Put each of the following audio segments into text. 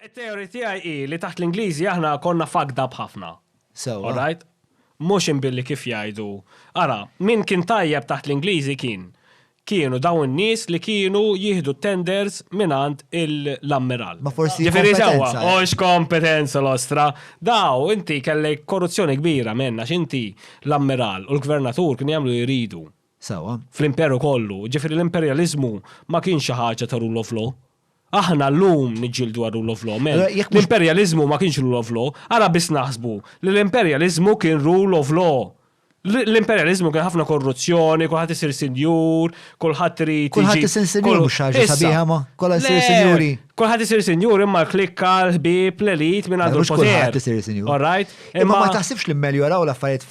It-theory tiegħi hi li taħt l-Ingliżi aħna konna fucked up ħafna. Sewwa. All right? Mhux imbilli kif jgħidu. Ara, min kien tajjeb taħt l-Ingliżi kien, kienu dawn in-nies li kienu jieħdu t-tenders mingħand il, l-ammiral. Ma forsi Ġifieri sewwa, kompetenza, eh. hux kompetenza l-ostra. Daw, inti kellek korruzzjoni kbira, men, għax inti l-ammiral u l-gvernatur kienu jagħmlu li jridu. Sewwa. Fl-imperu kollu. Ġifieri l-imperjaliżmu ma kienx xi ħaġa ta' rule of law. Aħna llum niġġieldu għal rule of law, men. L-imperjaliżmu ma kienx rule of law, ara biss naħsbu li l-imperjaliżmu kien rule of law. L-imperjaliżmu kien ħafna korruzzjoni, kulħadd isir sinjur, kulħadd irid. Kulħadd isir sinjur mhux ħaġa sabiħa ma, kollha jsir sinjuri. Kulħadd isir sinjur imma l-klikka, l-ħbieb, l-elit minn għandu l-poter. Kulħadd isir sinjur. All right? Imma ma taħsibx li mmeljoraw l-affarijiet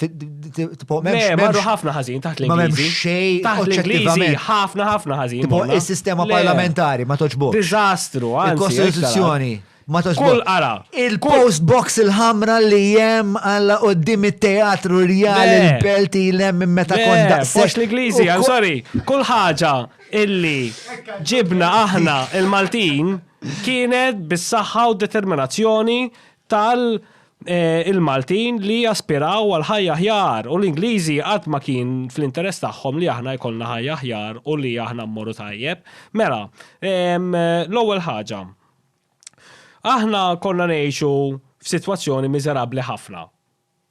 tipo Le, marru ħafna ħażin taħt l-Ingliżi. Ma m'hemm xejn taħt l-Ingliżi ħafna ħafna ħażin. Tipo is-sistema parlamentari ma toġbok. Diżastru, anzi. Il-Kostituzzjoni ma toġbok. Kull qara. Il-post box il-ħamra li jem għalla qoddim it-teatru rjal il-belti l-hemm minn meta konda. Post l-Ingliżi, I'm sorry. Kull ħaġa illi ġibna aħna il-Maltin kienet bis-saħħa u determinazzjoni tal il-Maltin li jaspiraw għal ħajja aħjar u l-Ingliżi qatt ma kien fl-interess tagħhom li aħna jkollna ħajja aħjar u li aħna mmorru tajjeb. Mela, l-ewwel ħaġa, aħna konna ngħixu f'sitwazzjoni miżerabbli ħafna.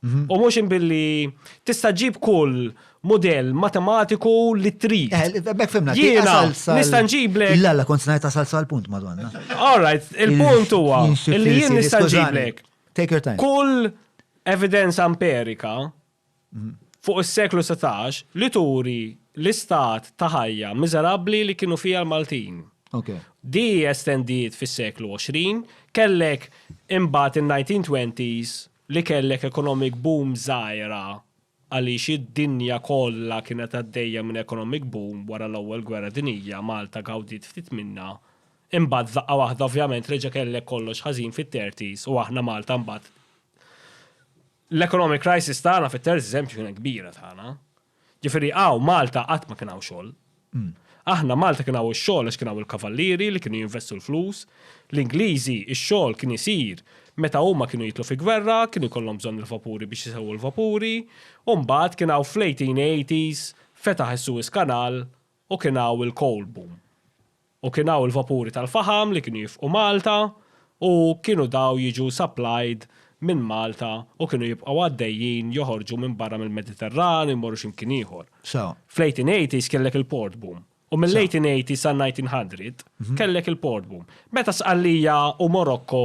Mhm. U mhux billi tista' ġib kull model matematiku li trid. Eh, Bek fimna, jiena nista' nġiblek. La, la, kont ngħid tasal sal punt madonna. All right, il-punt huwa li jien nista' nġiblek. Take your time. Kull evidenza amperika mhm. fuq is-seklu 16 li turi l-istat ta' ħajja miżerabbli li kienu fija l-Maltin. Okay. Di estendiet fis-seklu 20, kellek imbagħad in-1920s li kellek economic boom żgħira għaliex id-dinja kollha kienet għaddejja minn economic boom wara l-Ewwel Gwerra Dinjija, Malta gawdiet ftit minnha, imbagħad f'daqqa waħda ovvjament reġa' kellek kollox ħażin fit-thirties u aħna Malta mbagħad l-economic crisis tagħna fit-thirties eżempju kienet kbira tagħna. Ġifieri hawn Malta qatt ma kien hawn xogħol. Aħna Malta kien hawn ix-xogħol għax kien hawn il-kavallieri li kienu jinvestu l-flus. L-Ingliżi ix-xogħol kien isir meta huma kienu jidħlu fi gwerra, kienu jkollhom bżonn il-vapuri biex isewwu l-vapuri, u mbagħad kien hawn fl-1880s fetaħ is-Suez Canal U kien hawn il-coal boom. U kien hawn il-vapuri tal-faħam li kienu jifqu Malta u kienu daw jiġu supplied minn Malta u kienu jibqgħu għaddejjin joħorġu minn barra mill-Mediterran u jmorru xi mkien ieħor. Fl-1880s kellek il-port boom. U mill-1880s sal-1900 kellek il-port boom. Meta Sqallija u Morocco